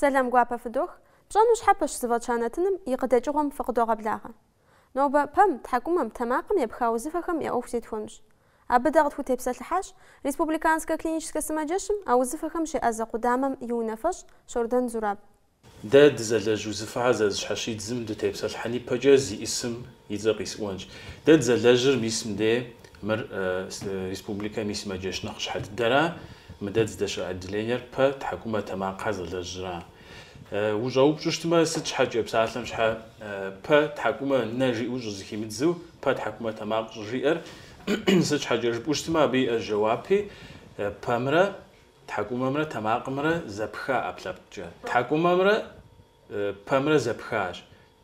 Сэлам гуапэ фыдох, пщӏэну щхьэпэщ зыфӏэтща нэтыным и къыдэкӏыгъуэм фыкъыдогъэблагъэ. Нобэ пэм, тхьэкӏумэм, тэмакъым епха узыфэхэм я ӏуэху зетхуэнущ. Абы дэ къытхутепсэлъыхьащ Республиканскэ клиническэ сымаджэщым а узыфэхэм щеӏэзэ къудамэм и унафэщӏ Щордэн Зураб. Дэ дызэлэжь узыфэхьэр зэрызыщхьэщидзым дытепсэлъыхьын ипэкӏэ зиӏысым и цӏэр къисӏуэнщ. Дэ дызэлэжьыр мис мыдей Мыр республикэм и сымаджэщ нэхъыщхьэ дыдэра. Мыдэ дыздэщыӏэ отделениер пэ тхьэкӏумэ тэмакъхьэ зэлэжьыра. Ущӏэупщӏу щытмэ, сыт щхьэкӏэ псалъэм щхьэ пэ тхьэкӏумэ нэ жиӏэу щӏызыхимыдзу пэ тхьэкӏумэ тэмакъ щӏыжиӏэр? Сыт щхьэкӏэ жыпӏэу щытмэ, абы иӏэщ жэуапи, пэмрэ тхьэкӏумэмрэ тэмакъымрэ зэпха ӏэпкълъэпкъкӏэ. Тхьэкӏумэмрэ Пэмрэ зэпхащ.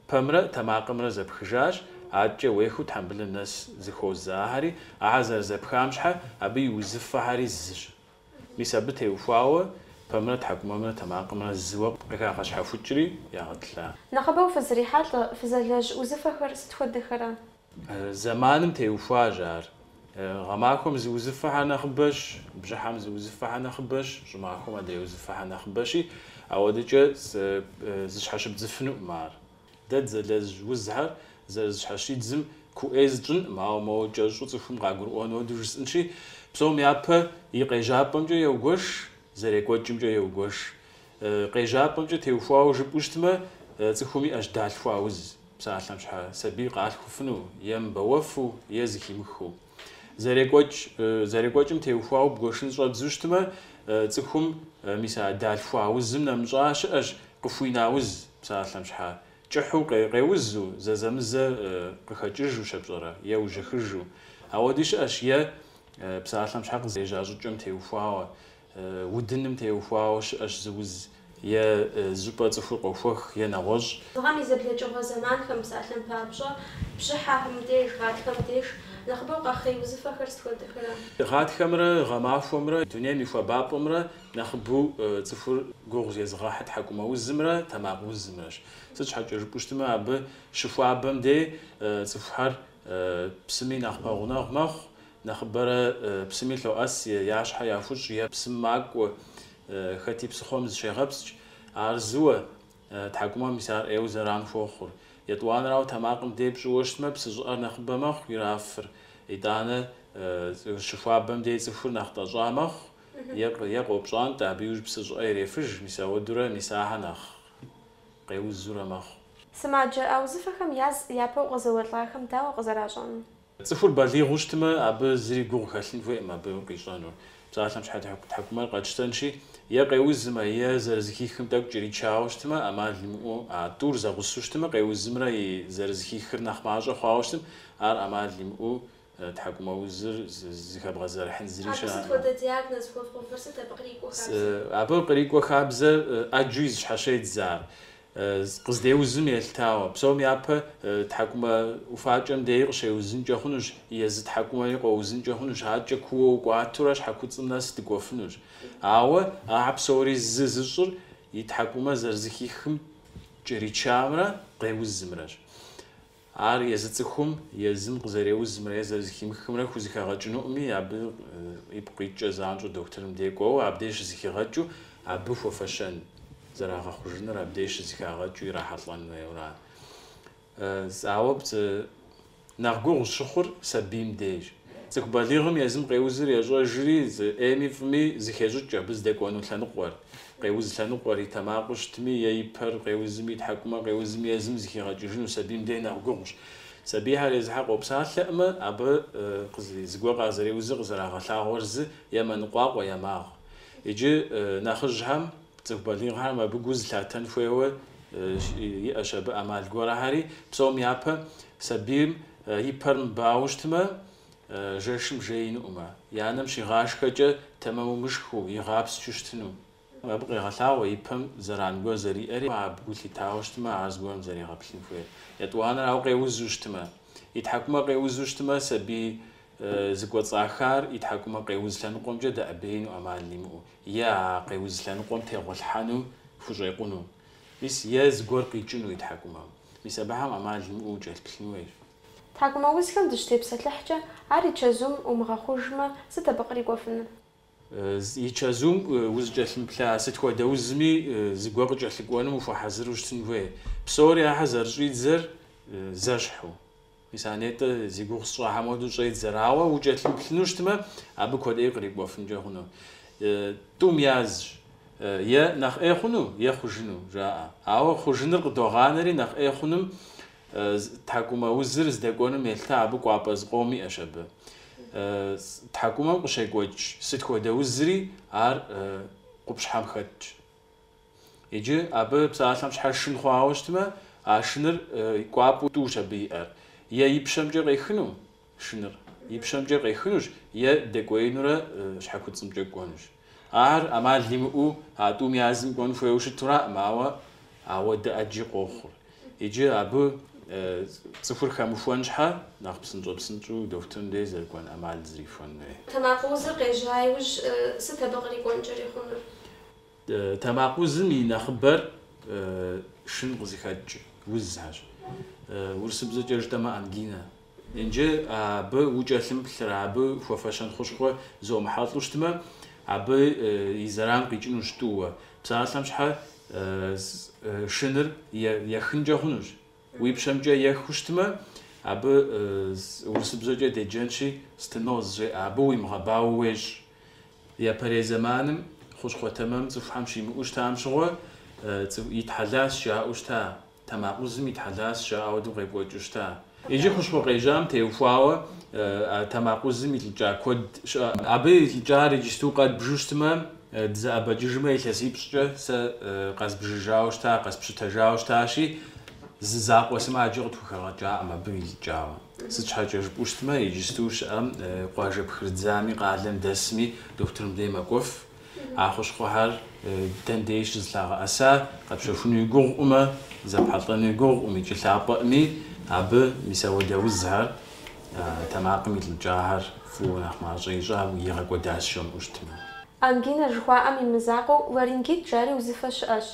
Пэмрэ тэмакъымрэ зэпхыжащ, адэкӏэ уехыу тхьэмбылым нэс зыхуозэ ахэри, ахэр зэрызэпхам щхьэ абы и узыфэхэри зыщ. Мис абы теухуауэ пэмрэ тхьэкӏумэмрэ тэмакъымрэ зыуэ къыхагъэщхьэхукӏри ягъэтӏылъа. Нэхъыбэу фызрихьэлӏэ, фызэлэжь узыфэхэр сыт хуэдэхэра? Зэманым теухуащ ар. Гъэмахуэм зы узыфэхэр нэхъыбэщ, бжьыхьэм зы узыфэхэр нэхъыбэщ, щӏымахуэм адрей узыфэхэр нэхъыбэщи, ауэдэкӏэ зыщхьэщыбдзыфынукъым ар. Дэ дызэлэжь узхэр зэрызыщхьэщидзым куу ӏей зытщӏынкъым, ауэ моуэ кӏэщӏу цӏыхум къагурыӏуэн уэду жысӏэнщи, псом япэ и къежьапӏэмкӏэ еугуэш, зэрекӏуэкӏымкӏэ еугуэш. Къежьапӏэмкӏэ теухуауэ жыпӏэу щытмэ, цӏыхум иӏэщ далъхуа уз. псалъэм щхьэ сабий къалъхуфыну, е мыбэуэфу, е зыхимыхыу. Зэрекӏуэкӏ, зэрекӏуэкӏым теухуауэ бгуэшын щӏэбдзу щытмэ, цӏыхум мис а далъхуа узым нэмыщӏа щыӏэщ, къыхуина уз, псалъэм щхьэ кӏыхьу къеузу, зэзэмызэ къыхэкӏыжу щэпщӏэрэ, е ужьыхыжу. Ауэди щыӏэщ е псалъэм щхьэ къызежьа щӏыкӏэм теухуауэ, Удыным теухуауэ щыӏэщ зы уз е зыщӏыпӏэ цӏыхур къохуэх е нэгъуэщӏ. Гъэм и зэблэкӏыгъуэ зэманхэм, псалъэм папщӏэ, бжьыхьэхэм деж, гъатхэм деж нэхъыбэу къэхъей узыфэхэр сыт хуэдэхэра? Гъатхэмрэ гъэмахуэмрэ, дунейм и хуабапӏэмрэ нэхъыбэу цӏыхур гугъу зезыгъэхьыр тхьэкӏумэ узымрэ тэмакъ узымрэщ. Сыт щхьэкӏэ жыпӏэу щытмэ, абы щыхуабэм дей цӏыхухэр псыми нэхъ пэгъунэгъу мэхъу, Нэхъыбэрэ псыми лъоӏэс е я щхьэ яхущӏ е псым макӏуэ, хэти псыхъуэм зыщегъэпскӏ. Ар зыуэ, тхьэкӏумэм мис ар ӏейуэ зэран хуохъур. Етӏуанэрауэ тэмакъым дей пщӏыуэ щытмэ, псы щӏыӏэр нэхъыбэ мэхъу, ирафыр. Итӏанэ щыхуабэм дей цӏыхур нэхъ тӏэщӏа мэхъу е къопщӏантӏэ, абы иужь псы щӏыӏэ ирефыж, мис ауэдурэ мис ахэр нэхъ къеузурэ мэхъу. Сымаджэ а узыфэхэм яз япэу къызэуэлӏахэм дауэ къызэращӏэнур? Цӏыхур балигъыу щытмэ, абы зыри гугъу хэлъын хуейкъым абы къищӏэнур. Псалъэм щхьэкӏэ тхьэкӏумэр къэтщтэнщи, е къеузымэ, е зэрызыхихым тӏэкӏу кӏэричауэ щытмэ, ӏэмал имыӏэу а тӏур зэгъусэу щытмэ, къеузымрэ и зэрызыхихыр нэхъ мащӏэ хъуауэ щытым, ар ӏэмал имыӏэу тхьэкӏумэ узыр зыхэбгъэзэрыхьын зыри щыӏэкъым. Абы сыт хуэдэ диагноз хуэпщӏыфыр, сыт абы кърикӏуэ хабзэр? Абы кърикӏуэ хабзэр ӏэджэу зэщхьэщедз ар. Къыздеузым елъытауэ, псом япэ тхьэкӏумэ ӏуфакӏэм деи къыщеузынкӏэ хъунущ, езы тхьэкӏумэри къоузынкӏэ хъунущ, адэкӏэ куууэ укӏуатурэ щхьэкуцӏым нэс дыкӏуэфынущ. Ауэ ахэр псори зы зыщӏыр и тхьэкӏумэ зэрызыхихым кӏэричамрэ къеузымрэщ. Ар езы цӏыхум езым къызэреузымрэ е зэрызыхимыхымрэ хузыхэгъэкӏынукъыми, абы ипкъ иткӏэ занщӏэу дохутырым дей кӏуэуэ, абдеж щызыхигъэкӏыу абы хуэфэщэн, зэрагъэхъужыныр абдеж щызыхагъэкӏыу ирахьэлӏэн хуейуэра? Ауэ псом нэхъ гугъу щыхъур сабийм деж. Цӏыху балигъым езым къеузыр ещӏэжри, ӏейми фӏыми зыхещӏыкӏ абы здэкӏуэну лъэныкъуэр. Къеуз лъэныкъуэр и тэмакъыу щытми, и пэр къеузми, и тхьэкӏумэр къеузми езым зыхигъэкӏыжыну сабийм дей нэхъ гугъущ. Сабийхэр езыхьэ къопсалъэӏымэ, абы зыгуэр къазэреузыр къызэрагъэлъагъуэр зы е мэныкъуакъуэ, е магъ. Иджы нэхъыжьхэм, цӏыху балигъхэм абы гу зылъатэн хуейуэ иӏэщ абы ӏэмал гуэрхэри, псом япэ сабийм И пэр мыбауэу щытмэ, жэшым жеинукъымэ, и анэм щигъашхэкӏэ тэмэму мышхыу, игъэпсчэу щытыну. Абы къегъэлъагъуэ и пэм зэран гуэр зэриӏэри, абы гу лъитауэ щытмэ, ар зыгуэрым зэригъэплъын хуейр. Етӏуанэр ауэ къеузу щытмэ. И тхьэкӏумэ къеузу щытмэ, сабий зыкӏуэцӏахар и тхьэкӏумэ къеуз лъэныкъуэмкӏэ дэӏэбеину ӏэмал имыӏэу е а къеуз лъэныкъуэм тегъуэлъхьэну хущӏекъуну. Мис е зыгуэр къикӏыну и тхьэкӏумэм. Мис абыхэм ӏэмал имыӏэу укӏэлъыплъын хуейщ. Тхьэкӏумэ узхэм дыщытепсэлъыхькӏэ, ар и чэзум умыгъэхъужмэ, сыт абы кърикӏуэфынур? И чэзум узыкӏэлъымыплъа сыт хуэдэ узми зыгуэр къыкӏэлъыкӏуэным ухуэхьэзыру щытын хуей, псори ахэр зэрыщӏидзэр зэщхьу. Мис а нетӏэ зи гугъу сщӏахьэм хуэдэу щӏедзэри, ауэ укӏэлъымыплъыну щытмэ, абы куэдӏей кърикӏуэфынкӏэ хъуну. Тӏум язщ е нэхъ ӏей хъуну, е хъужыну жаӏэ. Ауэ хъужыныр къыдогъанэри, нэхъ ӏей хъунум тхьэкӏумэ узыр здэкӏуэнум елъытэ, абы кӏуапӏэ зыкъом иӏэщ абы. Тхьэкӏумэм къыщекӏуэкӏ сыт хуэдэ узри ар къупщхьэм хэтщ. Иджы абы псалъэм щхьэ шын хъуауэ щытмэ, а шыныр кӏуапӏэу тӏущ абы иӏэр. Е и пщэмкӏэ къехыну шыныр, и пщэмкӏэ къехынущ, е дэкӏуеинурэ щхьэкуцӏымкӏэ кӏуэнущ. Ар ӏэмал имыӏэу а тӏум я зым кӏуэн хуейуэ щытураӏым, ауэ ауэдэ ӏэджи къохъур. Иджы абы цӏыхур хэмыхуэн щхьэ нэхъ псынщӏэпсынщӏэу дохутырым деж зэрыкӏуэн ӏэмал зрихуэн хуей. Тэмакъ узыр къежьа иужь сыт абы кърикӏуэнкӏэри хъунур? Тэмакъ узым и нэхъыбэр шын къызыхэкӏ узхэрщ. Урысыбзэкӏэ жытӏэмэ ангина. Иджы абы укӏэлъымыплъырэ абы хуэфэщэн хущхъуэ зомыхьэлӏэу щытмэ, абы и зэран къикӏыну щыту. Псалъэм щхьэ шыныр ехынкӏэ хъунущ. Уи пщэмкӏэ ехыу щытмэ, абы урысыбзэкӏэ деджэнщи, стеноз жеӏэ, абы уимыгъэбауэ уещӏ. Япэрей зэманым хущхъуэ тэмэм цӏыхухьэм щимыӏэу щытам щыгъуэ, итхьэлас жаӏэу щыта, тэмакъ узым итхьэлас жаӏэ ауэдэу къекӏуэкӏыу щыта. Иджы хущхъуэ къежьам теухуауэ а тэмакъ узым илӏыкӏа куэд щыӏэкъым. Абы илӏыкӏар иджысту къэдбжу щытмэ, Дызэӏэбэкӏыжмэ, илъэсипщӏкӏэ сэ къэзбжыжауэ щыта, къэспщытэжауэ щытащи, зы закъуэ сымаджэ къытхухэгъэкӏакъым абы илӏыкӏауэ. Сыт щхьэкӏэ жыпӏэу щытмэ, иджысту щыӏэм къуажэ пхрыдзами къалэм дэсми дохутырым дей мэкӏуэф. А хущхъуэхэр дэн деж щызлъагъэӏэса къэпщэхунуи гугъуӏумэ, зэпхьэлӏэнуи гугъуӏум икӏи лъапӏэӏыми, абы мис ауэдэ узхэр Тэмакъым илӏыкӏахэр фӏыуэ нэхъ мащӏэ ищӏауэ игъэкӏуэдас жомыӏэу щытмэ. Ангина жыхуаӏэм и мызакъуэу ларингит жари узыфэ щыӏэщ.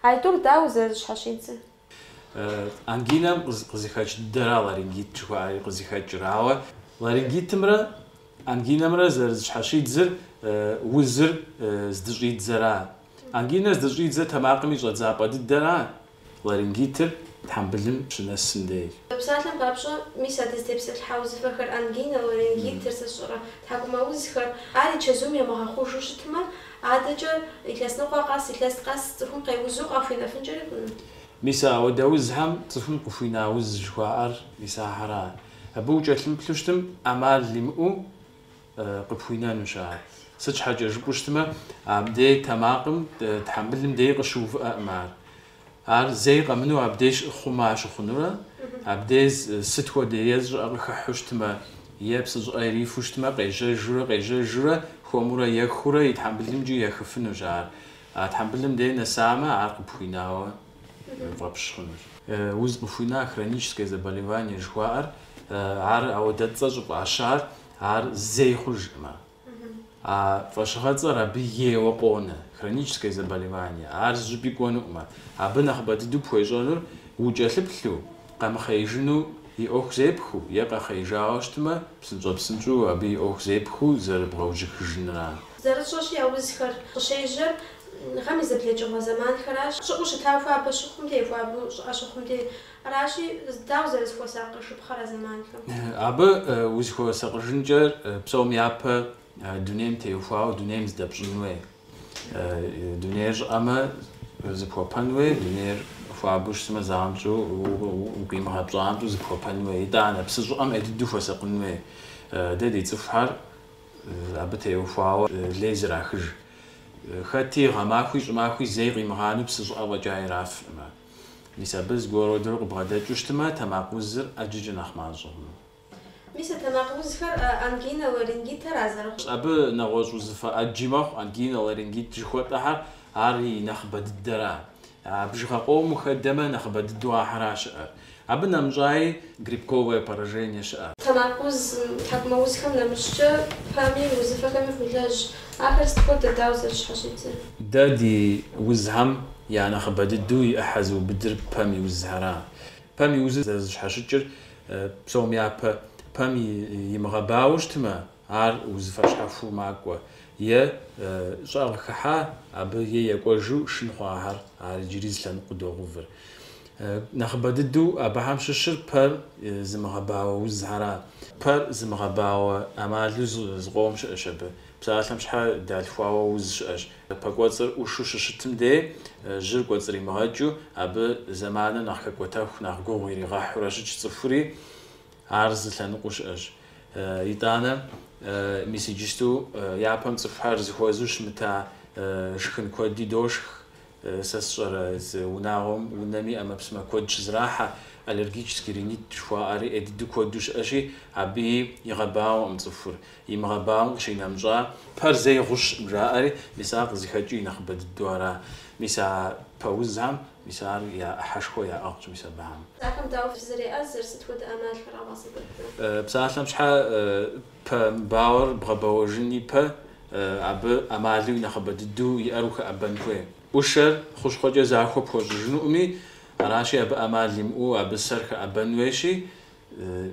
Аитӏур дауэ зэрызыщхьэщидзыр? Ангинэм къызыхэкӏ дыдэра ларингит жыхуаӏэри къызыхэкӏыр. Ауэ ларингитымрэ ангинэмрэ зэрызыщхьэщидзыр узыр здыщӏидзэра. Ангинэр здыщӏидзэр тэмакъым и щӏэдзапӏэ дыдэра. Ларингитыр тхьэмбылым щынэсым дей. Псалъэм папщӏэ, мис а дызытепсэлъыхьа узыфэхэр, ангина, ларингитыр, сэ сщӏэрэ, тхьэкӏумэузхэр, ар и чэзум ямыгъэхъужу щытмэ, адэкӏэ илъэс ныкъуэ къэс, илъэс къэс цӏыхум къеузу къахуинэфынкӏэри хъуну. Мис ауэдэ узхэм цӏыхум къыхуина уз жыхуаӏэр мис ахьэра. Абы укӏэлъымыплъу щытым ӏэмал имыӏэу къыпхуинэнущ ар. Сыт щхьэкӏэ жыпӏэу щытмэ, абдей тэмакъым, тхьэмбылым дей къыщыувыӏэкъым ар. Ар зэи къэмыну абдей щыхъума щыхъунурэ, абдей зы сыт хуэдэ е зы щӏыӏэ къыхыхьу щытмэ, е псы щӏыӏэ ирифу щытмэ, къежьэжурэ, къежьэжурэ, хуэмурэ ехурэ и тхьэмбылымкӏи ехыфынущ ар. А тхьэмбылым дей нэсамэ, ар къыпхуинауэ. фӏэпщ хъунущ. Уз къыхуина хроническое заболевание жыхуаӏэр ар ауэдэ цӏэ щӏыфӏащар, ар зэи хъужкъымэ. А фӏэщыгъэцӏэр абы ейуэ къонэ, хроническое заболевание, ар зыщӏыпӏи кӏуэнукъымэ. Абы нэхъыбэ дыдэу пхуещӏэнур укӏэлъыплъу, къэмыхъеижыну и ӏуэху зепхыу е къэхъеижауэ щытмэ, псынщӏэ-псынщӏэу абы и ӏуэху зепхыу зэрыбгъэужьыхыжынра. Зэрытщӏэщи, а узхэр къыщежьэр Гъэм и зэблэкӏыгъуэ зэманхэращ. Щӏыӏэу щыта хуабэ щыхъум де, хуабэу щӏыӏэ щыхъум де. Аращи, дауэ зэрызыхуэсакъыжыпхъэр а зэманхэм? Абы узыхуэсакъыжынкӏэр псом япэ дунейм теухуауэ дунейм зыдэпщӏын хуей. Дунейр щӏыӏэмэ, зыпхуэпэн хуей, дунейр хуабэу щысымэ, занщӏэу, укъимыгъэпщӏанщӏэу зыпхуэпэн хуей. Итӏанэ, псы щӏыӏэм ӏей дыдэу хуэсакъын хуей. Дэ ди цӏыхухэр. Абы теухуауэ лей зрахыж. Хэти гъэмахуи щӏымахуи зэи къимыгъанэу псы щӏыӏэ фӏэкӏа ирафкъымэ. Мис абы зыгуэродурэ къыбгъэдэкӏыу щытмэ, тэмакъ узыр ӏэджэкӏэ нэхъ мащӏэкъым. Мис а тэмакъ узхэр ангинэ, ларингитхэра зэрыхъу. Абы нэгъуэщӏ узыфэ ӏэджи мэхъу, ангинэ, ларингит жыхуэтӏэхэр, ар и нэхъыбэ дыдэра. А бжыгъэ къомым хэдэмэ нэхъыбэ дыдэу ахьэращ щыӏэр. Абы нэмыщӏаи грибковое поражение щыӏэ. Тэмакъ уз, тхьэкӏумэ узхэм нэмыщӏкӏэ, пэм и узыфэхэми фолэжь. Ахэр сыт хуэдэ, дауэ зэрызыщхьэщыкӏыр? Дэ ди узхэм я нэхъыбэ дыдэу и ӏыхьэ зыубыдыр пэм и узхэра. Пэм и узыр зэрызыщхьэщыкӏыр псом япэ, пэм имыгъэбауэу щытмэ, ар узыфэ щхьэхуэу макӏуэ, е щӏэгъ хыхьа, абы е екӏуэжу шын хъуахэр ар иджыри зы лъэныкъуэу догъэувыр. Нэхъыбэ дыдэу абыхэм щыщыр пэр зымыгъэбауэ узхьэра? Пэр зымыгъэбауэ ӏэмалу зыкъом щыӏэщ абы. Псалъэм щхьэ далъхуауэ уз щыӏэщ. Пэ кӏуэцӏыр ӏушу щыщытым дей, жьыр кӏуэцӏримыгъэкӏыу, абы зэманыр нэхъ хэкӏуэтэху, нэхъ гугъу иригъэхьурэ щытщ цӏыхури, ар зы лъэныкъуэу щыӏэщ. Итӏанэ, мис иджысту япэм цӏыхухэр зыхуэзэу щымыта шхын куэди дошх, Сэ сщӏэрэ, зы унагъуэм унэми ӏэмэпсымэ куэд щызрахьэ, аллергический ринит жыхуаӏэри ӏей дыдэу куэду щыӏэщи, абы игъэбауэкъым цӏыхур. Имыгъэбауэм къыщинэмыщӏа, пэр зэи гъущкъым жаӏэри, мис ар къызыхэкӏыу и нэхъыбэ дыдэу ара. Мис а пэ узхэм, мис ар я ӏыхьэшхуэ яӏыгъщ мис абыхэм. Ахэм дауэ фызэреӏэзэр, сыт хуэдэ ӏэмалхэр къэвгъэсэбэпрэ? Псалъэм щхьэ пэ мыбауэр бгъэбэуэжын ипэ? абы ӏэмалу и нэхъыбэ дыдэу иӏэр ухэӏэбэн хуей. ӏушэр хущхъуэкӏэ захуэ пхуэщӏыжынукъыми, аращи абы ӏэмал имыӏэу абы сэр хэӏэбэн хуейщи,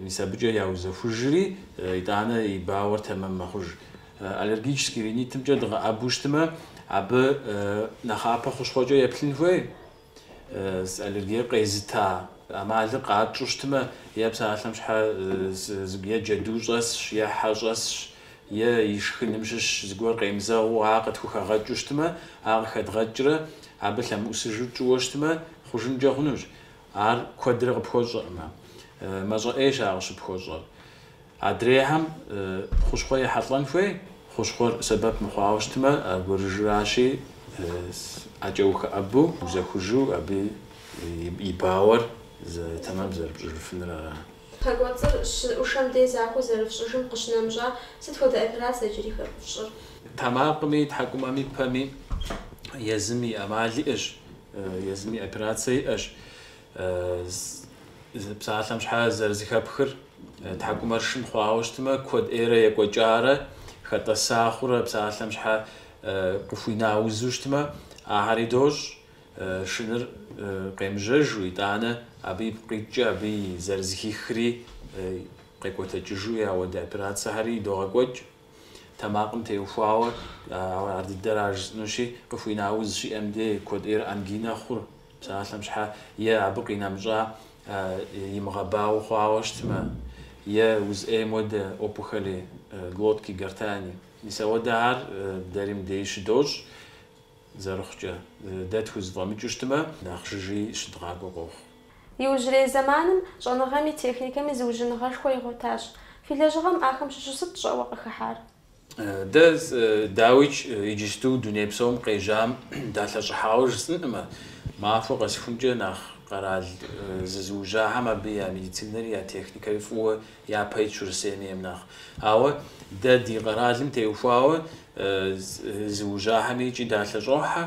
мис абыкӏэ яузэхужри, итӏанэ и бауэр тэмэм мэхъуж. Аллергический ринитымкӏэ дыӏэбэу щытмэ, абы нэхъапэ хущхъуэкӏэ еплъын хуей. аллергиер къезыта ӏэмалыр къатщӏу щытмэ, е псалъэм щхьэ е джэду щӏэсщ, е хьэ щӏэсщ, е и шхыным щыщ зыгуэр къемызэгъыу ар къытхухэгъэкӏыу щытмэ, ар къыхэдгъэкӏрэ абы лъэмыӏусыжу тщӏыуэ щытмэ, хъужынкӏэ хъунущ. Ар куэдрэ къыпхуэщӏыркъым. Мащӏэ ӏейщ ар къыщыпхуэщӏыр. Адрейхэм хущхъуэ яхьэлӏэн хуей, хущхъуэр сэбэп мыхъуауэ щытмэ, аргуэрыжьыращи, ӏэкӏэ ухэӏэбу, узэхужу абы и бауэр тэмэм зэрыпщӏыжыфынур ара? Пэкӏуэцӏыр щызэӏушэм дей захуэу зэрыфщӏыжым къыщынэмыщӏа, сыт хуэдэ операцэ иджыри фщӏыр? Тэмакъми, тхьэкӏумэми, пэми езым и ӏэмал иӏэщ, езым и операцэ иӏэщ. Псалъэм щхьэ зэрызыхэпхыр тхьэкӏумэр шын хъуауэ щытмэ, куэд ӏейрэ екӏуэкӏарэ, хэтӏэса хъурэ псалъэм щхьэ къыхуина узу щытмэ, ахьэри дощӏ шыныр къемыжьэжу, итӏанэ абы ипкъ къикӏкӏэ абы и зэрызыхихри къекӏуэтэкӏыжу ауэдэ операцэхэри догъэкӏуэкӏ. тэмакъым теухуауэ ар дыдэра жысӏынущи, къыхуина уз щиӏэм де, куэд ӏейр ангинэ хъур, псалъэм щхьэ, е абы къинэмыщӏа имыгъэбауэ хъуауэ щытмэ, е уз ӏейм уэдэ, опухоли глотки гортани. Мис ауэдэхэр дэри мыдеи щыдощӏ. Зэрыхъукӏэ, дэ тхузэфӏэмыкӏыу щытмэ, нэхъ жыжьи щыдгъакӏуэ къохъу. Иужьрей зэманым щӏэныгъэми техникэми зыужьыныгъэшхуэ игъуэтащ. Фи лэжьыгъэм ахэм щыщу сыт щӏэуэ къыхыхьар? Дэ, дауикӏ, иджысту дуней псом къежьам далъэщӏыхьауэ жысӏэнкъымэ, махуэ къэсхункӏэ нэхъ къэрал зызыужьахэм абы я медицинэри я техникэри фӏыуэ япэ итщ Урысейм ейм нэхъ. Ауэ дэ ди къэралым теухуауэ Зыужьахэми икӏи далъэщӏохьэ,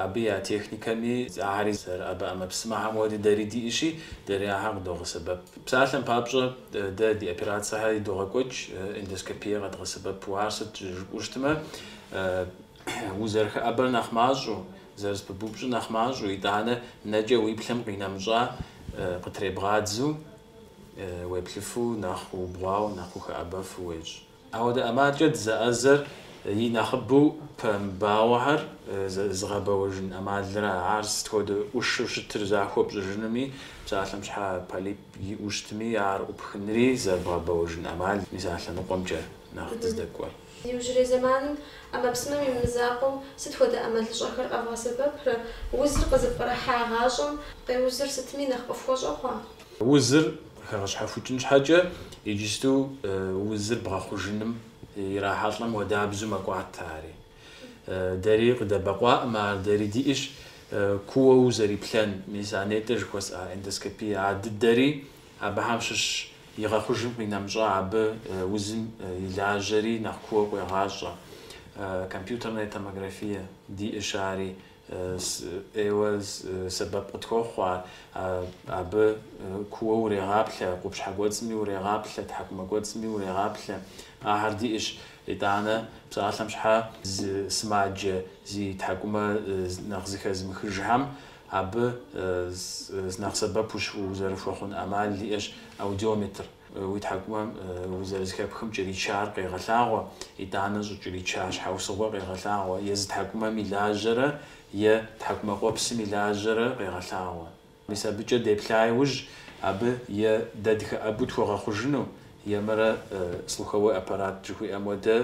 абы я техникэми, ахэри зэрыӏэбэ ӏэмэпсымэхэм хуэдэу дэри диӏэщи, дэри ахэр къыдогъэсэбэп. Псалъэм папщӏэ, дэ ди операцэхэр догъэкӏуэкӏ эндоскопие къэдгъэсэбэпу. Ар сыт жыпӏэу щытмэ, узэрыхэӏэбэр нэхъ мащӏэу, зэрызпыбупщӏыр нэхъ мащӏэу, итӏанэ нэкӏэ уиплъэм къинэмыщӏа къытребгъадзу, уеплъыфу, нэхъ убгъуауэ, нэхъ ухэӏэбэфу уещӏ. Ауэдэ ӏэмалкӏэ дызэӏэзэр и нэхъыбэу пэ мыбауэхэр зыгъэбэуэжын ӏэмалрэ, ар сыт хуэдэ ӏушэу щытыр захуэ пщӏыжынуми, псалъэм щхьэ полип иӏэу щытми, ар ӏупхынри зэрыбгъэбэуэжын ӏэмал, мис а лъэныкъуэмкӏэ нэхъ дыздэкӏуэр. Иужьрей зэманым ӏэмэпсымэм и мызакъуэу сыт хуэдэ ӏэмалыщӏэхэр къэвгъэсэбэпрэ? Узыр къызыпкърыхьагъащӏэм къеузыр сытми нэхъ къыфхуэщӏэ хъуа? Узыр хэгъэщхьэхукӏын щхьэкӏэ иджысту узыр бгъэхъужыным ирахьэлӏэм уэдабзу мэкӏуатэ ари. Дэри къыдэбэкъуакъым ар, дэри диӏэщ кууэ узэриплъэн, мис а нетӏэ жыхуэсӏа эндоскопие а дыдэри абыхэм щыщщ, игъэхъужым къинэмыщӏа абы узым и лажьэри нэхъ кууэ къуегъащӏэ. Компьютернэ томографие диӏэщ ари, ӏейуэ сэбэп къытхуохъу ар, абы кууэ урегъаплъэ, къупщхьэ кӏуэцӏми урегъаплъэ, тхьэкӏумэ кӏуэцӏми урегъаплъэ. Ахэр диӏэщ, итӏанэ псалъэм щхьэ сымаджэ зи тхьэкӏумэ нэхъ зыхэзмыхыжхэм абы нэхъ сэбэпу узэрыхуэхъун ӏэмал диӏэщ аудиометр. Уи тхьэкӏумэм узэрызыхэпхым кӏэричар къегъэлъагъуэ, итӏанэ щӏыкӏэрича щхьэусыгъуэр къегъэлъагъуэ, езы тхьэкӏумэм и лажьэрэ е тхьэкӏумэкъуэпсым и лажьэрэ къегъэлъагъуэ. Мис абыкӏэ деплъа иужь, абы е дэ дыхэӏэбу тхуэгъэхъужыну, емырэ слуховой аппарат жыхуиӏэм уэдэ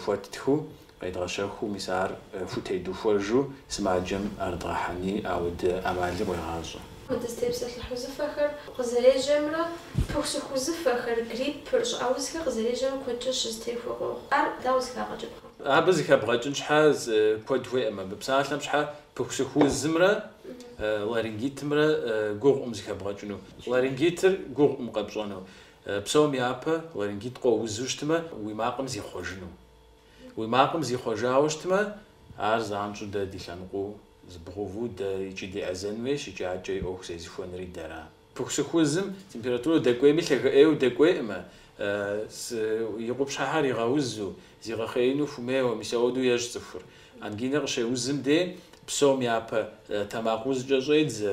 хуэттхыу Къедгъэщэхуу, мис ар хутедухуэжу сымаджэм ар дгъэхьэни, ауэдэ ӏэмали къуегъащӏэ. Апхуэдэ дызытепсэлъыхь узыфэхэр къызэрежьэмрэ пыхусыху узыфэхэр, гриппыр, щӏыӏэузхэр къызэрежьэмрэ куэдкӏэ щызэтехуэ къохъу. Ар дауэ зыхагъэкӏыпхъэ? Абы зыхэбгъэкӏын щхьэ куэд хуеӏэм. Абы псалъэм щхьэ пыхусыху узымрэ ларингитымрэ гугъукъым зыхэбгъэкӏыну. Ларингитыр гугъукъым къэпщӏэну. Псом япэ ларингит къоузу щытмэ, уи макъым зихъуэжыну. Уи макъым зихъуэжауэ щытмэ, ар занщӏэу дэ ди лъэныкъуэу зыбгъэуву дэ икӏи деӏэзэн хуейщ икӏи адэкӏэ и ӏуэху зезыхуэнри дэра. Пыхусыху узым температурэ дэкӏуейми лъагэ ӏейуэ дэкӏуейкъым, и къупщхьэхэр игъэузу, зигъэхъеину хумейуэ, мис ауэдэу ещӏ цӏыхур. Ангинэ къыщеузым дей псом япэ тэмакъ узкӏэ щӏедзэ,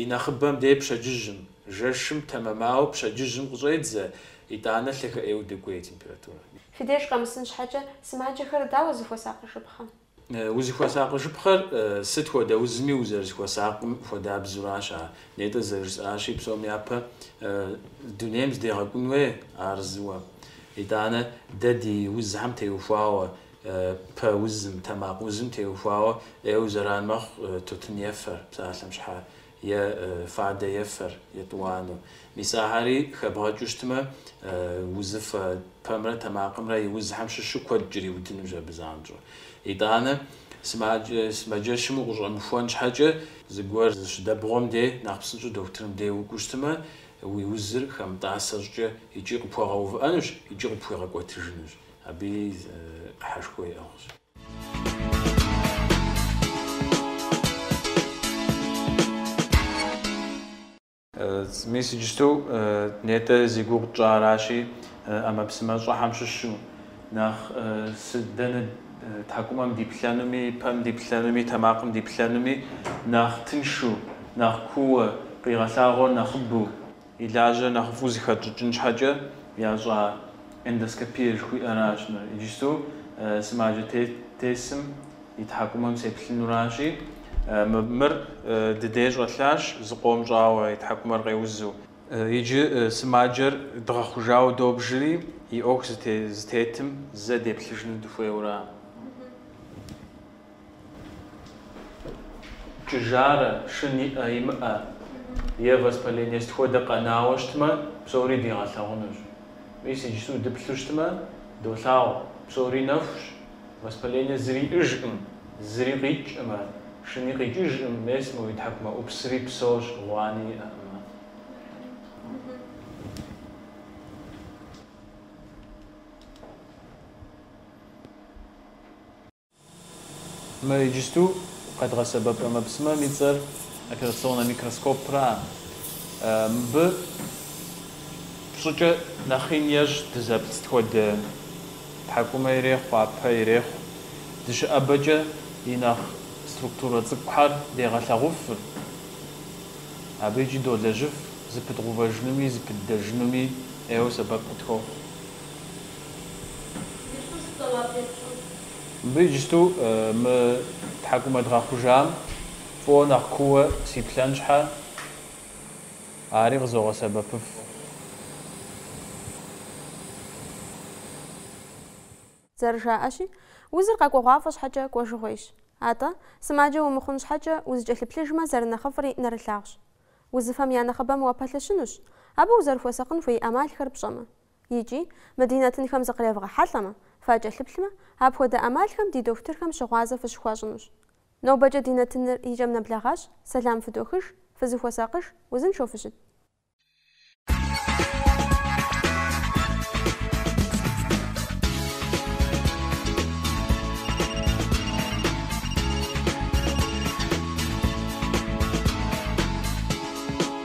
и нэхъыбэм дей пщэдджыжьым. Жэщым тэмэмауэ пщэдджыжьым къыщӏедзэ, итӏанэ лъагэ ӏейуэ докӏуей температурэр. Фи деж къэмысын щхьэкӏэ сымаджэхэр дауэ зыхуэсакъыжыпхъэ? Узыхуэсакъыжыпхъэр сыт хуэдэ узми узэрызыхуэсакъым хуэдабзэуращ ар. Нетӏэ зэрыжысӏащи, псом япэ дунейм зыдегъэкӏун уей ар зыуэ. Итӏанэ дэ ди узхэм теухуауэ, пэ узым, тэмакъ узым теухуауэ ӏейуэ зэран мэхъу тутын ефэр псалъэм щхьа е фадэ ефэр, етӏуанэу. Мис ахэри хэбгъэкӏыу щытмэ, узыфэ пэмрэ тэмакъымрэ и узхэм щыщу куэд кӏэриудынущ абы занщӏэу. Итӏанэ, сымаджэщым укъыщӏэмыхуэн щхьэкӏэ, зыгуэр зыщыдэбгъуэм де нэхъ псынщӏэу дохутырым де укӏуэу щытмэ, уи узыр хэмытӏасэ щӏыкӏэ икӏи къыпхуэгъэувыӏэнущ, икӏи къыпхуигъэкӏуэтыжынущ. Абыи ӏыхьэшхуэ иӏыгъщ. Мис иджыпсту нетӏэ зи гугъу тщӏыращи, ӏэмэпсымэ щӏыхьэм щыщу, нэхъ сыт, дэнэ тхьэкӏумэм диплъэнуми, пэм диплъэнуми, тэмакъым диплъэнуми нэхъ тыншу, нэхъ кууэ, къигъэлъагъуэр нэхъыбэу, И лажьэр нэхъыфӏу зыхэтщӏыкӏын щхьэкӏэ ящӏа эндоскопие жыхуиӏэращ мыр. Иджыпсту сымаджэ тесым и тхьэкӏумэм сеплъынуращи, мыр ди дей щӏэлъащ, зыкъом щӏауэ, и тхьэкӏумэр къеузу. Иджы сымаджэр дгъэхъужауэ добжри, и ӏуэху зытетым зэ деплъыжыну дыхуейуэ аращ. Кӏыжарэ, шын иӏэ, имыӏэ е воспаление сыт хуэдэ къэнауэ щытмэ, псори дигъэлъагъунущ. Мис иджыпсту дыплъу щытмэ, долъагъу, псори нэхущ, воспалении зыри иӏыжкъым, зыри къикӏкъымэ, шыни къикӏыжкъым, мес мо и тхьэкӏумэӏупсри псощ, гъуани иӏэкъымэ. Мы иджыпсту къэдгъэсэбэп ӏэмэпсымэм и цӏэр операционнэ микроскопращ. Мыбы пщӏыкӏэ нэхъ ин ещӏ дызэплъ сыт хуэдэ тхьэкӏумэ ирехъу, пэ ирехъу. Дыщыӏэбэкӏэ и нэхъ структурэ цӏыкӏухэр дегъэлъэгъуфыр, абы икӏи долэжьыф, зыпыдгъувэжынуми зыпыддэжынуми ӏейуэ сэбэп къытхуохъу. Мыбы иджыпсту мы тхьэкӏумэ дгъэхъужам фӏыуэ нэхъ кууэ сиплъэн щхьэ, ари къызогъэсэбэпыф. Зэрыжаӏэщи, узыр къэкӏуэгъуафӏэ щхьэкӏэ кӏуэжыгъуейщ. Атӏэ, сымаджэ умыхъун щхьэкӏэ, узыкӏэлъыплъыжмэ, зэрынэхъыфӏри нэрылъагъущ. Узыфэм я нэхъыбэм уапэлъэщынущ, абы узэрыхуэсакъын хуей ӏэмалхэр пщӏэмэ. Икӏи, мы ди нэтынхэм зыкъревгъэхьэлӏэмэ, факӏэлъыплъмэ, апхуэдэ ӏэмалхэм ди дохутырхэм щыгъуазэ фыщыхуащӏынущ. Нобэкӏэ ди нэтыныр и кӏэм нэблэгъащ, сэлам фыдохыж, фызыхуэсакъыж, узыншэу фыщыт.